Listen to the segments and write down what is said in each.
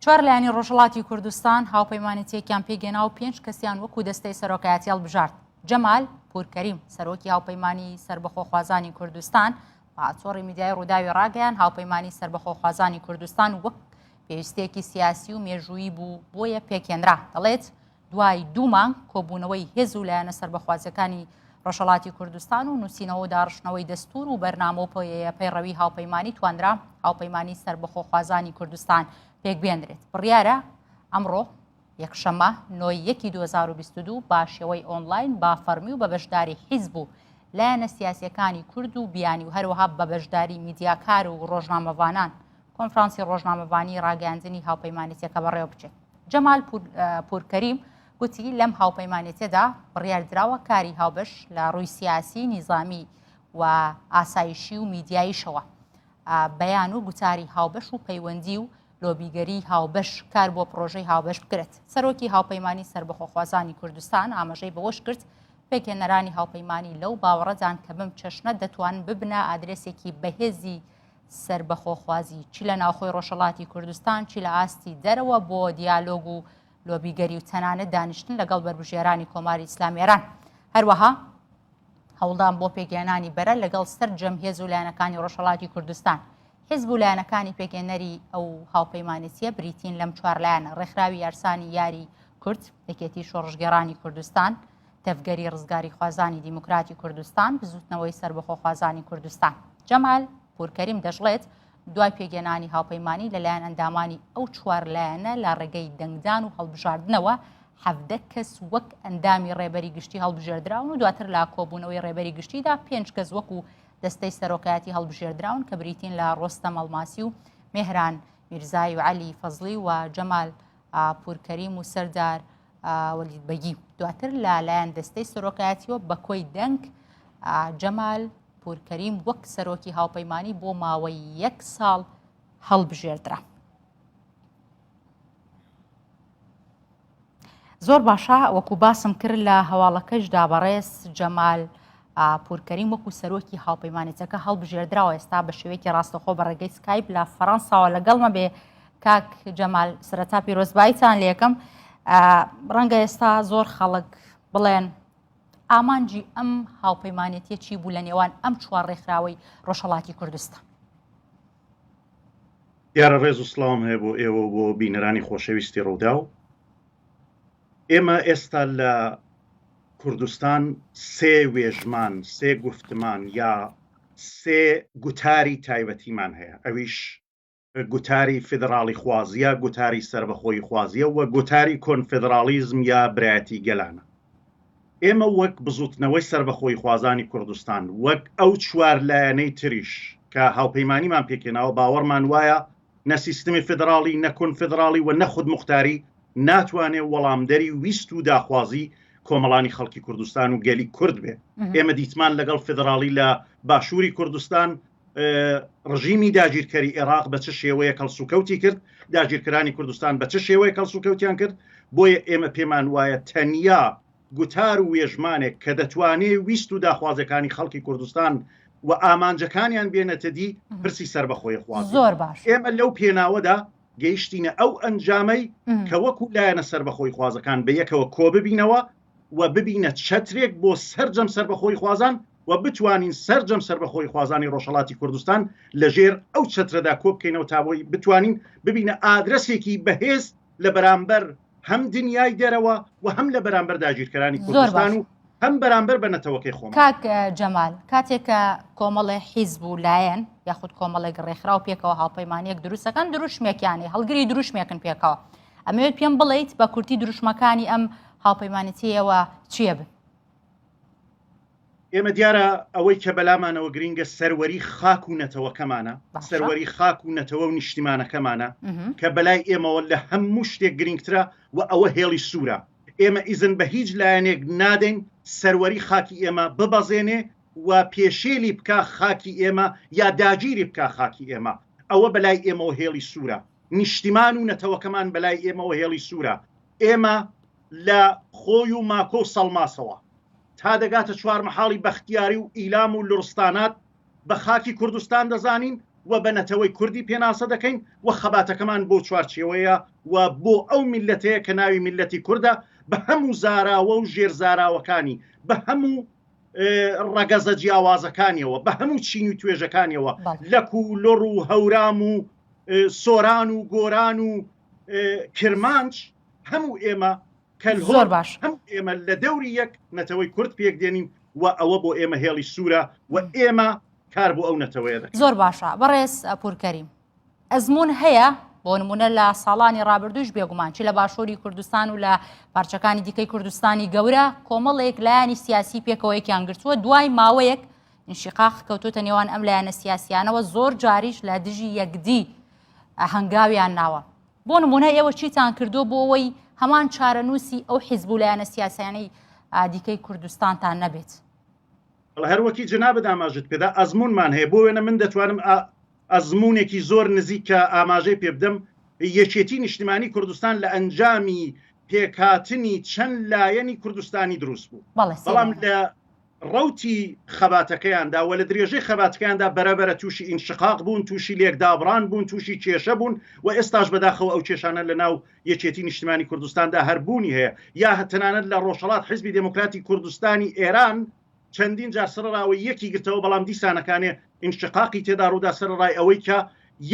چوار لایەنی ڕۆژهڵاتی کوردستان هاوپەیمانەتیەکیان پێگەنا و پێنج کەسیان وەکو دەستەی سەرۆکایەتی هەڵبژارد جەمال پورکەریم سەرۆکی هاوپەیمانی سربەخۆخوازانی کوردستان پاچۆڕی میدیای ڕووداوی ڕاگەیان هاوپەیمانی سربەخۆخوازانی کوردستان وەک پێویستێکی سیاسی و مێژوویی بوو بۆیە پێکێنرا دەڵێت دوای دوو مانگ کۆبوونەوەی هێز و لایەنە سەربەخوازیەکانی ڕۆژهڵاتی کوردستان و نووسینەوە و داڕشتنەوەی دەستور و بەرنامە و پۆیەیە پەیڕەوی هاوپەیمانانی توانرا هاوپەیمانانی سربەخۆخوازانی کوردستان پێک بێنرێت بڕیارە ئەمڕۆ یەکشەمە نۆی یەکی 2022 باشەوەی ئۆنلاین با فەرمی و بە بەشداری حیزب و لایەنە سیاسەکانی کورد و بیانی و هەروەها بە بەشداری میدیاکار و ڕۆژنامەوانان کۆنفرانسی ڕۆژنامەوانی ڕاگەاندنی هاوپەیمانەتەکە بەڕێوە بچێت جەمال پورکەریم گوتی لەم هاوپەیمانێتێدا بڕیاردراوە کاری هاوبەش لە ڕووی سیاسی نیزامی و ئاسایشی و میدیاییشەوە بەیان و گوتاری هاوبەش و پەیوەندی و لۆبیگەری هاوبەش کار بۆ پرۆژەی هاوبەش بکرێت سەرۆکی هاوپەیمانانی سربەخۆخوازانی کوردستان ئاماژەی بەوەش کرد پێکێنەرانی هاوپەیمانانی لەو باوەڕەدان کە بم چەشنە دەتوان ببنە ئادرسێکی بەهێزی سەربەخۆخوازی چ لە ناوخۆی ڕۆژهەڵاتی کوردستان چی لە ئاستی دەرەوە بۆ دیالۆگ و لۆبیگەری و تەنانەت دانیشتن لەگەڵ بەربژێرانی کۆماری ئیسلامی ئێران هەروەها هەوڵدان بۆ پێگەیانانی بەرە لەگەڵ سەر جەمهێز و لایەنەکانی ڕۆژهڵاتی کوردستان حزب و لایەنەکانی پێگەێنەری ئەو هاوپەیمانەتیە بریتین لەم چوارلایەنە ڕێکخراوی یارسانی یاری کورد یەکێتی شۆڕژگەرانی کوردستان تەڤگەری ڕزگاریخوازانی دیموکراتی کوردستان بزوتنەوەی سربەخۆخوازانی کوردستان جەمال پورکەریم دەشڵێت دوای پێگەێنانی هاوپەیمانانی لەلایەن ئەندامانی ئەو چوار لایەنە لە ڕێگەی دەنگدان و هەڵبژاردنەوە حەفدە کەس وەک ئەندامی ڕێبەری گشتی هەڵبژێردراون و دواتر لا کۆبوونەوەی ڕێبەری گشتیدا پێنج کەس وەک و دەستەی سەرۆکایەتی هەڵبژێردراون کە بریتین لە ڕۆستە مەڵماسی و مهران میرزای و علی فەزلی و جەمال پوور کەریم و سەردار وەلید بەگی دواتر لە لایەن دەستەی سەرۆکایەتیوە بە کۆی دەنگ جەمال پورکەریم وەک سەرۆکی هاوپەیمانی بۆ ماوەی یەک ساڵ هەڵبژێردرا. زۆر باشە وەکو باسم کرد لە هەواڵەکەشدا بەڕێز جەمال پورکەریم وەکو سەرۆکی هاوپەیمانێتەکە هەڵبژێردراوە ئێستا بە شێوەیەکی ڕاستەخۆ بە ڕێگەی سکایب لە فەڕەنساوە لەگەڵمە بێ کاک جەمال سرەتا پیرۆزبایتان لەکەم ڕەنگە ئێستا زۆر خەڵک بڵێن ئامانجی ئەم هاوپەیمانێتی چی بوو لە نێوان ئەم چوار ڕێکخراوەی ڕۆژهڵاتی کوردستان دیارە ڕێز و سلااوم هەیە بۆ ئێوە بۆ بینەرانی خۆشەویستی ڕوودا و ئێمە ئێستا لە کوردستان سێ وێژمان سێ گفتمان یا سێ گوتاری تایبەتیمان هەیە ئەویش گوتاری فیدڕاڵیخوازییە، گوتاری سەربەخۆییخوازییە و گوتاری کۆنفیدڕاڵیزم یا برایەتی گەلانە. ئێمە وەک بزووتنەوەی سەربەخۆییخوازانی کوردستان، وەک ئەو چوار لایەنەی تریش کە هاوپەیمانیمان پێکهێناوە باوەڕمان وایە نە سیستمی فیدڕاڵی، نە کۆنفیدڕاڵی و نە خودموختاری ناتوانێ وەڵامدەری ویست و داخوازی کۆمەڵانی خەڵکی کوردستان و گەلی کورد بێ. ئێمە دیتمان لەگەڵ فیدڕاڵی لە باشووری کوردستان، ڕژیمی داگیرکەری عێراق بە چ شێوەیە کەڵسوکەوتی کرد داگیرکرانی کوردستان بە چ شێوەیە کەڵسوکەوتیان کرد بۆیە ئێمە پێمان وایە تەنیا گوتار و وێژمانێک کە دەتوانێ ویست و داخوازەکانی خەڵکی کوردستان و ئامانجەکانیان بێنێتە دی پرسی سەر بەخۆی خواز زۆر باش ئێمە لەو پێناوەدا گەیشتینە ئەو ئەنجامەی کە وەکو لایەنە سەر بەخۆی خوازەکان بە یەکەوە کۆببینەوە و ببینە چەترێک بۆ سەرجەم سەربەخۆییخوازان و بتوانین سەرجەم سەربەخۆییخوازانی ڕۆژهەڵاتی کوردستان لە ژێر ئەو چەترەدا کۆ بکەینەوە تا بۆی بتوانین ببینە ئادرەسێکی بەهێز لە بەرامبەر هەم دنیای دەرەوە و هەم لە بەرامبەر داگیرکەرانی زۆر کوردستان باش و هەم بەرامبەر بە نەتەوەکەی خۆمان کاک اه، جەمال کاتێک کە کۆمەڵێ حیزب و لایەن یاخود کۆمەڵێک ڕێکخراو پێکەوە هاوپەیمانیەک دروستەکەن دروشمێکیانی هەڵگری دروشمێکن پێکەوە ئەمەوێت پێم بڵیت بە کورتی دروشمەکانی ئەم هاوپەیمانەتیەوە چیە بن ئێمە دیارە ئەوەی کە بەلامانەوە گرنگە سەروەری خاک و نەتەوەکەمانە سەروەری خاک و نەتەوە و نیشتیمانەکەمانە کە بەلای ئێمەوە لە هەموو شتێک گرنگترە و ئەوە هێڵی سوورە ئێمە ئیزن بە هیچ لایەنێک نادەین سەروەری خاکی ئێمە ببەزێنێ و پێشێلی بکە خاکی ئێمە یا داگیری بکە خاکی ئێمە ئەوە بەلای ئێمەوە هێڵی سوورە نیشتیمان و نەتەوەکەمان بەلای ئێمەوە هێڵی سوورە، ئێمە لە خۆی و ماکۆ و سەڵماسەوە تا دەگاتە چوارمەحاڵی بەختیاری و ئیلام و لوڕستانات بە خاکی کوردستان دەزانین و بە نەتەوەی کوردی پێناسە دەکەین و خەباتەکەمان بۆ چوارچێوەیە و بۆ ئەو میللەتەیە کە ناوی میللەتی کوردە بە هەموو زاراوە و ژێر زاراوەکانی بە هەموو ڕەگەزە جیاوازەکانیەوە بە هەموو چین و توێژەکانیەوە لەک و لڕ و هەورام و سۆران و گۆران و کرمانج هەموو ئێمە کەل زۆر باش هەم ئێمە لە دەوری یەک نەتەوەی کورد پێک دێنین و ئەوە بۆ ئێمە هێڵی سوورە و ئێمە کار بۆ ئەو نەتەوەیە دەکەین زۆر باشە بەڕێز پورکەریم ئەزمون هەیە بۆ نمونە لە ساڵانی ڕابردوش بێگومان چی لە باشووری کوردستان و لە پارچەکانی دیکەی کوردستانی گەورە کۆمەڵێک لایانی سیاسی پێکەوەیەکیان گرتووە دوای ماوەیەک انشقاق کەوتوتە نێوان ئەم لایەنە سیاسیانەوە زۆر جاریش لە دژی یەکدی هەنگاویان ناوە بۆ نمونە ئێوە چیتان کردو بۆ ئەوەی هەمان چارەنووسی ئەو حیزب و لایەنە سیاسیانەی دیکەی کوردستانتان نەبێت هەروەکی جنا بداماژت پێدا ئەزمونمان هەیە بۆ وێنە من دەتوانم ئەزمونێکی زۆر نزیک کە ئاماژەی پێ بدەم یەکێتی نیشتمانی کوردستان لە ئەنجامی پێکاتنی چەند لایەنی کوردستانی دروست بوو بەڵام لە ڕەوتی خەباتەکەیاندا و لە درێژەی خەباتکەیاندا بەرەبەرە تووشی ئینشقاق بوون تووشی لێک دابڕان بوون تووشی کێشە بوون و ئێستاش بەداخەوە ئەو کێشانە لە ناو یەکێتی نیشتمانی کوردستاندا هەر بوونی هەیە یا هەتەنانەت لە ڕۆژهەڵات حیزبی دێموکراتی کوردستانی ئێران چەندین جار سڕراوە یەکی گرتەوە بەڵام دیسانەکانێ ئینشقاقی تێدا ڕوودا سەرەڕای ئەوەی کە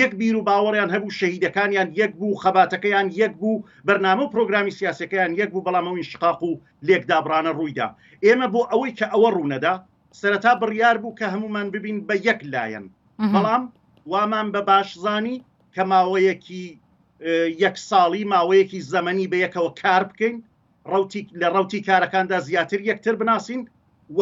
یەک بیر و باوەڕیان هەبوو، شەهیدەکانیان یەک بوو، خەباتەکەیان یەک بوو، بەرنامە و پرۆگرامی سیاسیەکەیان یەک بوو، بەڵام ئەو ئینشقاق و لێکدابڕانە ڕوویدا. ئێمە بۆ ئەوەی کە ئەوە ڕوونەدا، سەرەتا بڕیار بوو کە هەموومان ببین بە یەک لایەن، بەڵام وامان بە باش زانی کە ماوەیەکی یەک ساڵی، ماوەیەکی زەمەنی بە یەکەوە کار بکەین، لە ڕوتی کارەکاندا زیاتر یەکتر بناسین و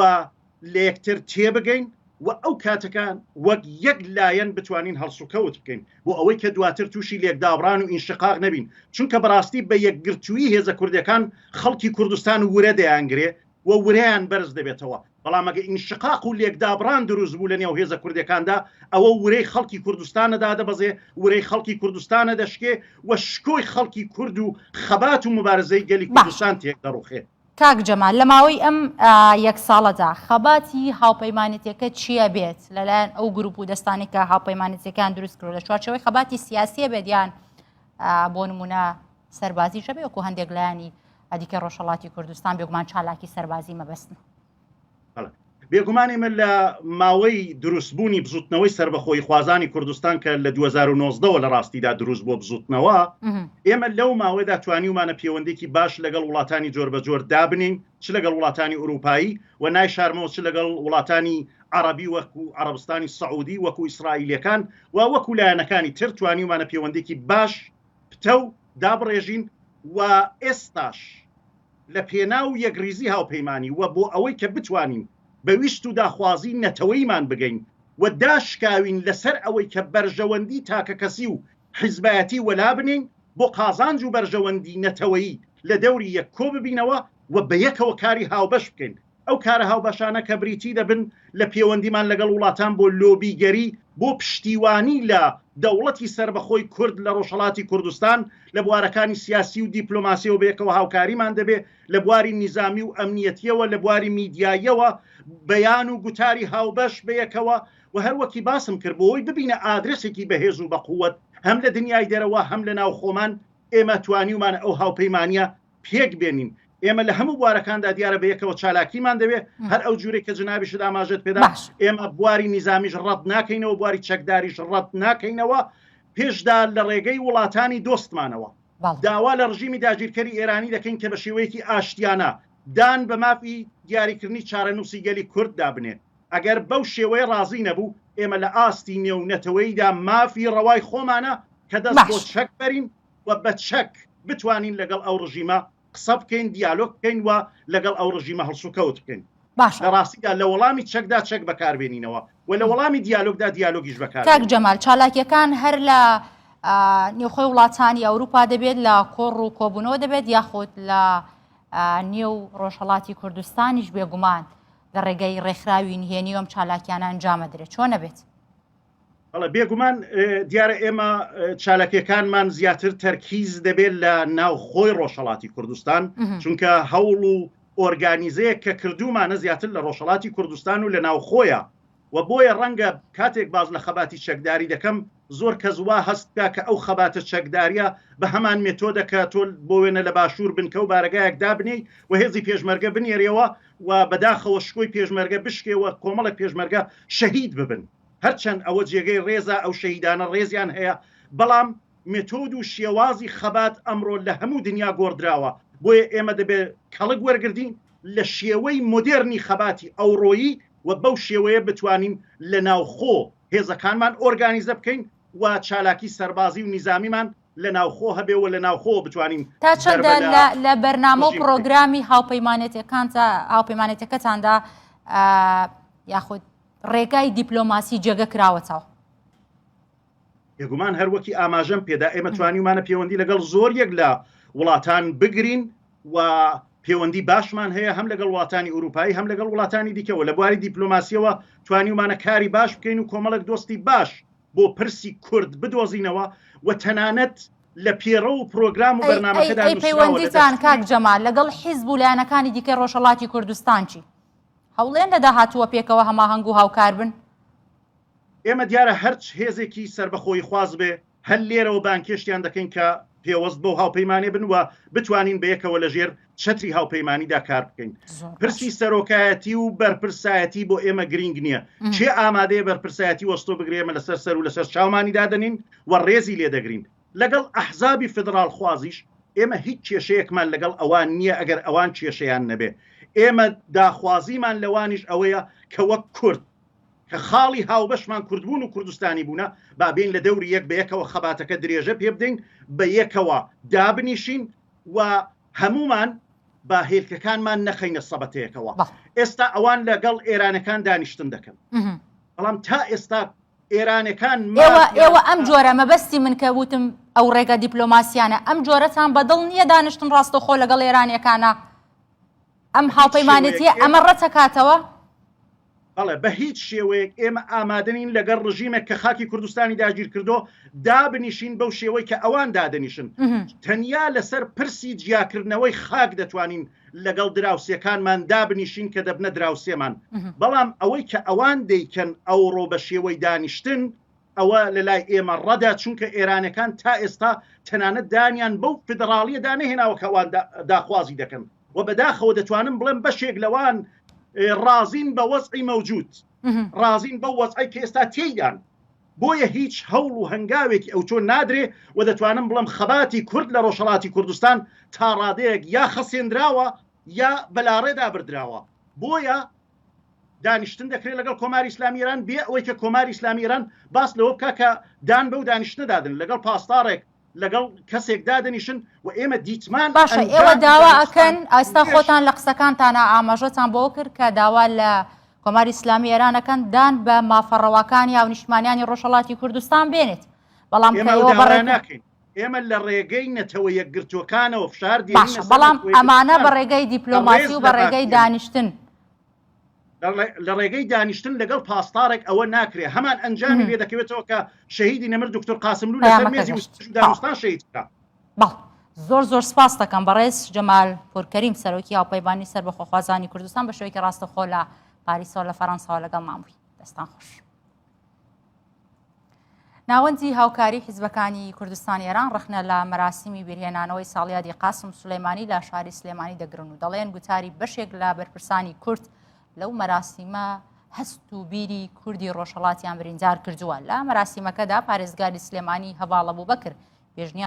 لە یەکتر تێبگەین و ئەو کاتەکان وەک یەک لایەن بتوانین هەڵسوکەوت بکەین بۆ ئەوەی کە دواتر تووشی لێکدابران و ئینشقاق نەبین چونکە بەڕاستی بە یەکگرتووی هێزە کوردەکان خەڵکی کوردستان ورە دەیانگرێ و وریان بەرز دەبێتەوە بەڵام ئەگە ئینشقاق و لێکدابڕان دروست بوو لە نێو هێزە کوردەکاندا ئەوە ورەی خەڵکی کوردستانە دادەبەزێ، ورەی خەڵکی کوردستانە دەشکێ و شکۆی خەڵکی کورد و خەبات و موبارزەی گەلی کوردستان تێک دەڕوخێ. کاک جەمال لە ماوەی ئەم یەک ساڵەدا خەباتی هاوپەیمانێتیەکە چیە بێت لە لایەن ئەو گروپ و دەستانی کە هاوپەیمانێتیەکان دروست کرد لە چوارچەوەی خەباتی سیاسیە بێت یان بۆ نمونە سەربازی شەبێ وەکو هەندێک لایانی ئەدیکە ڕۆژهڵاتی کوردستان بێگومان چالاکی سەربازی مەبەستن بێگومانی من لە ماوەی دروستبوونی بزوتنەوەی سربەخۆی خوازانی کوردستان کە لە 2009ەوە لە ڕاستیدا دروست بۆ بزوتنەوە ئێمە لەو ماوەدا توانیومانە پەیوەندێکی باش لەگەڵ وڵاتانی جۆر بە جۆر دابنین چ لەگەڵ وڵاتانی ئوروپایی و نای شارمەوە چ لەگەڵ وڵاتانی عربی وەکو عربستانی سعودی وەکو ئیسرائیلەکان و وەکو لایەنەکانی تر توانیومانە پەیوەندێکی باش پتەو دابڕێژین و ئێستاش لە پێناو یەکڕیزی هاوپەیمانی و بۆ ئەوەی کە بتوانین بە ویست و داخوازی نەتەوەیمان بگەین و داشکاوین لە سەر ئەوەی کە بەرژەوەندی تاکەکەسی و حیزبایەتی وەلا بنێین بۆ قازانج و بەرژەوەندی نەتەوەیی لە دەوری یەک کۆ ببینەوە و بە یەکەوە کاری هاوبەش بکەین ئەو کارە هاوبەشانە کە بریتی دەبن لە پێوەندیمان لەگەڵ وڵاتان بۆ لۆبیگەری بۆ پشتیوانی لە دەوڵەتی سەربەخۆی کورد لە ڕۆژهەڵاتی کوردستان لە بوارەکانی سیاسی و دیپلۆماسیەوە بەیەکەوە هاوکاریمان دەبێ لە بواری نیزامی و ئەمنیەتیەوە لە بواری میدیاییەوە بەیان و گوتاری هاوبەش بەیەکەوە و هەروەکی باسم کرد بۆی ببینە ئادرسێکی بەهێز و بەقووەت هەم لە دنیای دەرەوە هەم لە ناوخۆمان ئێمە توانیومانە ئەو هاوپەیمانە پێک بێنین ئێمە لە هەموو بوارەکاندا دیارە بە یەکەوە چالاکیمان دەوێت هەر ئەو جوورێک کە جنابیش داماژت پێدا ئێمە بواری نیزامیش ڕەت ناکەینەوە بواری چەکداریش ڕەت ناکەینەوە پێشدا لە ڕێگەی وڵاتانی دۆستمانەوە داوا لە ڕژیمی داگیرکەری ئێرانی دەکەین کە بە شێوەیەکی ئاشتیانە دان بە مافی دیاریکردنی چارەنووسی گەلی کورد دابنێت ئەگەر بەو شێوەیە ڕازی نەبوو ئێمە لە ئاستی نێو نەتەوەیدا مافی ڕەوای خۆمانە کە دەست بۆ چەک بەرین و بە چەک بتوانین لەگەڵ ئەو ڕژیمە قسە بکەین دیالۆگ بکەین و لەگەڵ ئەو ڕژیمە هەڵسوکەوت بکەین باشە لە ڕاستیدا لە وەڵامی چەکدا چەک بەکاربێنینەوە و لە وەڵامی دیالۆگدا دیالۆگیش بەکار کاک جەمال چالاکیەکان هەر لە ئا، نێوخۆی وڵاتانی ئەوروپا دەبێت لە کۆڕ و کۆبوونەوە دەبێت یاخود لە ئا، نێو ڕۆژهەڵاتی کوردستانیش بێگومان لە ڕێگەی ڕێکخراوی نهێنی و ئەم چالاکیانە ئەنجامە درێت چۆن نەبێت بەڵێ بێگومان دیارە ئێمە چالاکیەکانمان زیاتر تەرکیز دەبێت لە ناوخۆی ڕۆژهڵاتی کوردستان چونکە هەوڵ و ئۆرگانیزەیە کە کردومانە زیاتر لە ڕۆژهڵاتی کوردستان و لە ناوخۆیە و بۆیە ڕەنگە کاتێک باز لە خەباتی چەکداری دەکەم زۆر کەس وا هەستکە کە ئەو خەباتە چەکداریە بە هەمان مێتۆدە کە تۆل بۆ وێنە لە باشوور بنکە و بارەگایەک دابنی و هێزی پێشمەرگە بنێرەوە و بەداخەوە شکۆی پێشمەرگە بشکێوە کۆمەڵە پێشمەرگە شەهید ببن هەرچەند ئەوە جێگەی ڕێزە ئەو شەهیدانە ڕێزیان هەیە، بەڵام مێتۆد و شێوازی خەبات ئەمڕۆ لە هەموو دنیا گۆڕدراوە، بۆیە ئێمە دەبێ کەڵک وەرگردین لە شێوەی مۆدێرنی خەباتی ئەوڕۆیی و بەو شێوەیە بتوانین لە ناوخۆ هێزەکانمان ئۆرگانیزە بکەین و چالاکی سەربازی و نیزامیمان لە ناوخۆ هەبێ و لە ناوخۆوە بتوانین تا چەندە ضەربە لە لە بەرنامە و ڕژیم بکەین. پڕۆگرامی هاوپەیمانێتیەکانتا هاوپەیمانێتیەکەتاندا یاخود ڕێگای دیپلۆماسی جێگە کراوەتەوە. بێگومان هەر وەکی ئاماژەم پێدا ئێمە توانیومانە پێوەندی لەگەڵ زۆر یەک لە وڵاتان بگرین و پەیوەندی باشمان هەیە هەم لەگەڵ وڵاتانی ئوروپایی هەم لەگەڵ وڵاتانی دیکەەوە لە بواری دیپلۆماسیەوە توانیومانە کاری باش بکەین و کۆمەڵک دۆستی باش بۆ پرسی کورد بدۆزینەوە و تەنانەت لە پێڕە و پرۆگرام و بەرنمەکەدا پەیوەندیتان کاک جەمال لەگەڵ حیزب و لایەنەکانی دیکە ڕۆژهڵاتی کوردستانچی هەوڵێن لە داهاتووە پێکەوە هەماهەنگ و هاوکار بن. ئێمە دیارە هەرچ هێزێکی سەربەخۆییخواز بێ، هەر لێرەوە بانگهێشتیان دەکەین کە پێوەست بەو هاوپەیمانیە بن و بتوانین بە یەکەوە لە ژێر چەتری هاوپەیمانیدا کار بکەین. پرسی سەرۆکایەتی و بەرپرسایەتی بۆ ئێمە گرینگ نییە. کێ ئامادەیە بەرپرسایەتی وەستۆ بگرێ ئێمە لەسەر سەر و لەسەر چاومانی دادەنین و ڕێزی لێ دەگرین. لەگەڵ ئەحزابی فیدڕاڵخوازیش ئێمە هیچ کێشەیەکمان لەگەڵ ئەوان نییە ئەگەر ئەوان کێشەیان نەبێ. ئێمە داخوازیمان لەوانیش ئەوەیە کە وەک کورد، کە خاڵی هاوبەشمان کوردبوون و کوردستانیبوونە، با بێین لە دەوری یەک بە یەکەوە خەباتەکە درێژە پێ بدەین، بە یەکەوە دابنیشین و هەموومان با هێلکەکانمان نەخەینە سەبەتەیەکەوە. ئێستا ئەوان لەگەڵ ئێرانەکان دانیشتن دەکەن. بەڵام تا ئێستا ئێرانەکان ئێوە ئەم جۆرە مەبەستی من کە وتم ئەو ڕێگە دیپلۆماسیانە ئەم جۆرەتان بەدڵ نییە دانیشتن ڕاستەخۆ لەگەڵ ئێرانەکانە ئەم هاوپەیمانێتیە ئەمە ڕەتەکاتەوە بەڵێ بە هیچ شێوەیەک ئێمە ئامادەنین لەگەڵ ڕژیمێک کە خاکی کوردستانی داگیر کردو دابنیشین بەو شێوەی کە ئەوان دادنیشن تەنیا لەسەر پرسی جیاکردنەوەی خاک دەتوانین لەگەڵ دراوسێکانمان دابنیشین کە دەبنە دراوسێمان بەڵام ئەوەی کە ئەوان دەیکەن ئەوڕۆ بە شێوەی دانیشتن ئەوە لە لای ئێمە ڕەدا چونکە ئێرانەکان تا ئێستا تەنانەت دانیان بەو فدراڵیە دانەهێناوە کەوان داخوازی دەکەن و بەداخەوە دەتوانم بڵێم بەشێک لەوان ڕازین بە وەزعی مەوجود ڕازین بە وەزعی کە ئێستا تێیدان بۆیە هیچ هەوڵ و هەنگاوێکی ئەوتۆ نادرێ و دەتوانم بڵێم خەباتی کورد لە ڕۆژهەڵاتی کوردستان تا ڕادەیەک یا خەسێندراوە یا بە لاڕێدا بردراوە، بۆیە دانیشتن دەکرێ لەگەڵ کۆماری ئیسلامی ئێران بێ ئەوەی کە کۆماری ئیسلامی ئێران باس لەوە بکا کە دان بەو دانیشتنەدا دەنێ لەگەڵ پاسداڕێک، لەگەڵ کەسێک دادەنیشن و ئێمە دیتمان باشە ئێوە داوا ئەکەن ئاستا خۆتان لە قسەکانتانە ئاماژەتان بۆ کرد کە داوا لە کۆماری ئسلامی ئێرانەکەن دان بە مافەڕەواکانی هاونیشتمانیانی ڕۆژهڵاتی کوردستان بێنێت بەڵام ناکەین ئێمە لە ڕێگەی نەتەوە یەکگرتوەکانەوە فشار بەڵام ئەمانە بە ڕێگەی دیپلۆماسی و بە ڕێگەی دانیشتن لە ڕێگەی دانیشتن لەگەڵ پاسدارێک ئەوە ناکرێت هەمان ئەنجامی بێ دەکەوێتەوە کە شەهیدی نەمر دکتۆر قاسم لو لەسەر مێزی دانوستان شەهید کرا زۆر زۆر سپاس دەکەم بەڕێز جەمال پورکەریم سەرۆکی هاوپەیبانی سەر بەخۆخوازانی کوردستان بە شوێکی ڕاستەخۆ لە پاریسەوە لە فەرەنساوە لەگەڵ مامووی دەستان خۆش. ناوەندی هاوکاری حیزبەکانی کوردستانی ئێران ڕخنە لە مەراسیمی بیرهێنانەوەی ساڵیادی قاسم سلەیمانی لە شاری سلێمانی دەگرن و دەڵێن گوتاری بەشێک لە بەرپرسانی کورد لەو مەراسیمە هەست و بیری کوردی ڕۆژهڵاتیان بریندار کردووە لە مەراسیمەکەدا پارێزگاری سلێمانی هەواڵە بوو بەکرد پێشنیان